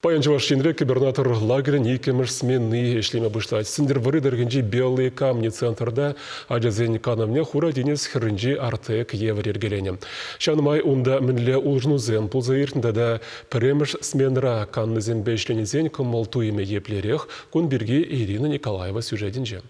Паян Чӑваш Енре кибернатор лагерӗн иккӗмӗш смени ӗҫлеме пуҫлать. Сӗнтӗрвӑрри тӑрӑхӗнчи Белые камни центрта ачасен канӑвне Хура тинӗс хӗрринчи Артек евӗр йӗркеленӗ. Ҫавӑн май унта мӗнле улшӑнусем пулса иртнӗ тата пӗрремӗш сменӑра каннисемпе ӗҫленисен кӑмӑл-туйӑмӗ еплерех кун пирки Ирина Николаева сюжетӗнче.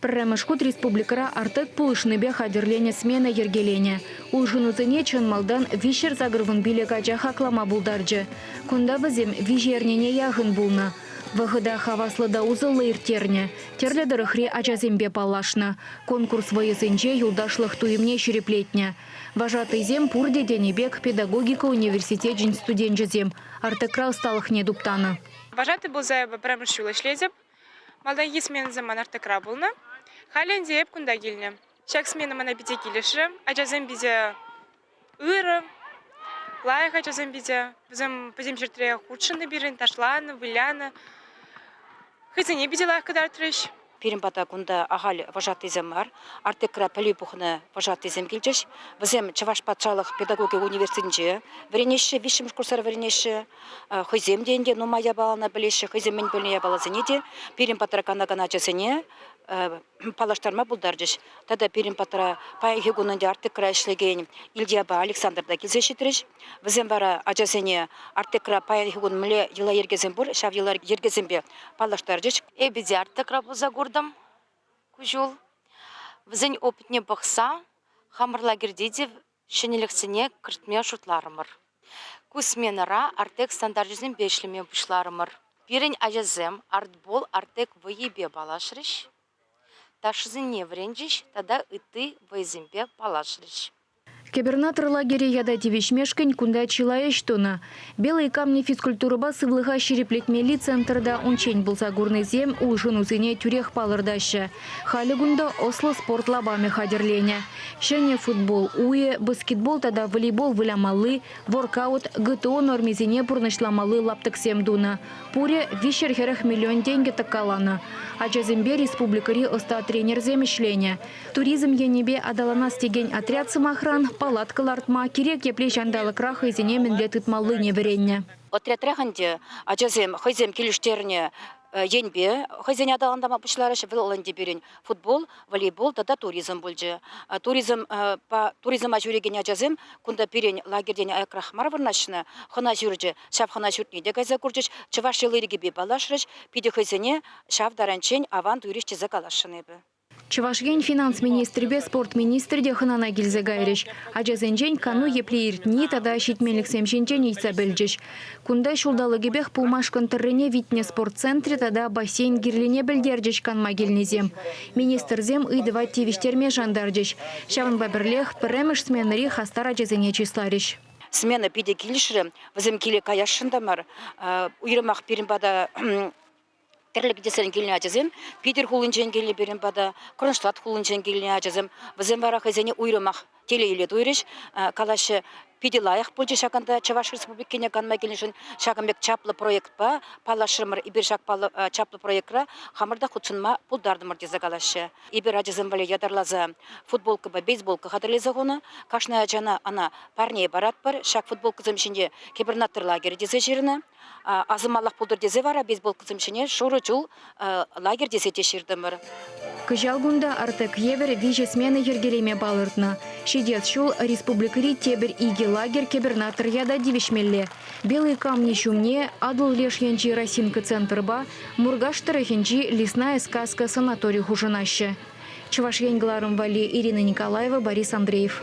Пӗрремӗш хут республикӑра Артек пулӑшнипе хатӗрленӗ смена йӗркеленӗ. Улшӑнусене чӑн малтан виҫҫӗр сакӑрвун пилӗк ача хаклама пултарчӗ. Кунта вӗсем виҫӗ эрнене яхӑн пулнӑ. Вӑхӑта хаваслӑ та усӑллӑ ирттернӗ, тӗрлӗ тӑрӑхри ачасемпе паллашнӑ, конкурс вӑйӑсенче юлташлӑх туйӑмне ҫирӗплетнӗ. Вожатӑйсем пурте тенӗ пек педагогика университечӗн студенчӗсем Артекра ӑсталӑхне туптанӑ. Вожатӑй пулса эпӗ пӗрремӗш ҫул ӗҫлетӗп. Малтанхи сменӑсем ман Артекра пулнӑ. Халӗ ӗнтӗ эп кунта килнӗ. Ҫак смена мана питӗ килӗшрӗ. Ачасем питӗ ырӑ, лайӑх ачасем питӗ. Вӗсем пӗтӗм ҫӗртре хутшӑннӑ пирӗн, ташланӑ, вылянӑ. Хӑйсене питӗ лайӑх кӑтартрӗҫ. Пирӗн пата кунта ахаль вожатӑйсем мар. Артекра пӗлӳ пухнӑ вожатӑйсем килчӗҫ. Вӗсем Чӑваш патшалӑх педагогика университетӗнче вӗренеҫҫӗ, виҫҫӗмӗш курсра вӗренеҫҫӗ. Хӑйсем те ӗнтӗ нумай япалана пӗлеҫҫӗ, хӑйсем мӗн пӗлнӗ япаласене те пирӗн патра канакан ачасене паллаштарма пултарчӗҫ. Тата пирӗн патра паянхи кун ӗнтӗ Артекра ӗҫлекен Ильяпа Александр та килсе ҫитрӗҫ. Вӗсем вара ачасене Артекра паянхи кун мӗнле йӑла-йӗркесем пур, ҫав йӑла-йӗркесемпе паллаштарчӗҫ. Эпидиарта пулса куртӑм ку ҫул. Вӗсен опытне пӑхса хамӑр лагерьте те ҫӗнӗлӗхсене кӗртме шутларӑмӑр. Ку сменӑра Артек стандарчӗсемпе ӗҫлеме пуҫларӑмӑр. Пирӗн ачасем артбол Артек вӑййипе паллашрӗҫ, ташӑсене вӗренчӗҫ тата ытти вӑйӑсемпе паллашрӗҫ. Кӗпӗрнатӑр лагере ята тивӗҫмешкӗн кунта чылай ӗҫ тунӑ. Белые камни физкультурӑпа сывлӑха ҫирӗплетмелли центрта унччен пулса курнисем улшӑнусене тӳрех палӑртаҫҫӗ. Халӗ кунта ӑслӑ спорт лапамӗ хатӗрленӗ. Ҫӗнӗ футбол уйӗ, баскетбол тата волейбол вылямалли, воркаут, ГТО нормисене пурнӑҫламалли лаптӑксем тунӑ. Пурӗ виҫҫӗр хӗрӗх миллион тенкӗ тӑккаланӑ. Ачасемпе республикӑри ӑста тренерсем ӗҫленӗ. Туризм енӗпе аталанас текен отряд, сӑмахран, палатка лартма, кирек епле ҫанталӑкра хӑйсене мӗнле тытмаллине вӗреннӗ. Отрядрех ӗнтӗ ачасем хӑйсем килӗштернӗ енпе хӑйсене аталантарма пуҫларӗҫ. Вӑл ӗнтӗ пирӗн футбол, волейбол тата туризм пулчӗ. Туризма ҫӳрекен ачасем кунта пирӗн лагерьтен аякрах мар вырнаҫнӑ хӑна ҫурчӗ. Ҫав хӑна ҫуртне те кайса курчӗҫ, чӑваш йӑли-йӗркипе паллашрӗҫ. Питӗ хӑйсене ҫав таранччен аван туйрӗҫ тесе каласшӑн эпӗ. Чӑваш Ен финанс министрӗпе спорт министрӗ те хӑнана килсе кайрӗҫ. Ачасенчен кану епле иртни тата ҫитменлӗхсем ҫинчен ыйтса пӗлчӗҫ. Кунта ҫулталӑкӗпех пулмашкӑн тӑррине витнӗ спорт центрӗ тата бассейн кирлине пӗлтерчӗҫ канма килнисем. Министрсем ыйтӑва тивӗҫтерме шантарчӗҫ. Ҫавӑнпа пӗрлех пӗрремӗш сменӑри хастар ачасене чысларӗҫ. Смена питӗ килӗшрӗ. Вӗсем киле каясшӑн та мар. Уйрӑмах пирӗн пата тӗрлӗ кӗтесрен килнӗ ачасем Питӗр хулинчен килнӗ пирӗн пата, Кронштадт хулинчен килнӗ ачасем, вӗсем вара хӑйсене уйрӑмах телейлӗ туйрӗҫ, калаҫҫӗ, питӗ лайӑх пулчӗ ҫакӑнта Чӑваш Республикине канма килнӗшӗн ҫакӑн пек чаплӑ проектпа паллашрӑмӑр. Эпир ҫак чаплӑ проектра хамӑр та хутшӑнма пултартӑмӑр тесе калаҫҫӗ. Эпир ачасем валли ятарласа футболкӑпа бейсболка хатӗрлесе хунӑ. Кашни ачана ӑна парне паратпӑр. Ҫак футболкӑсем ҫинче кибернатор лагерӗ тесе ҫырнӑ. Асӑнмаллах пултӑр тесе вара бейсболкӑсем ҫине шурӑ чул лагерь тесе те ҫыртӑмӑр. Кӑҫал кунта Артек евӗр виҫӗ смена йӗркелеме палӑртнӑ. Ҫитес ҫул республикӑри тепӗр икӗ лагерь кӗпӗрнаттӑр ята тивӗҫмелле. Белые камни ҫумне Атӑл леш енчи Росинка центрпа Муркаш тӑрӑхӗнчи Лесная сказка санатори хушӑнаҫҫӗ. Чӑваш Ен кӑларӑм валли Ирина Николаева, Борис Андреев.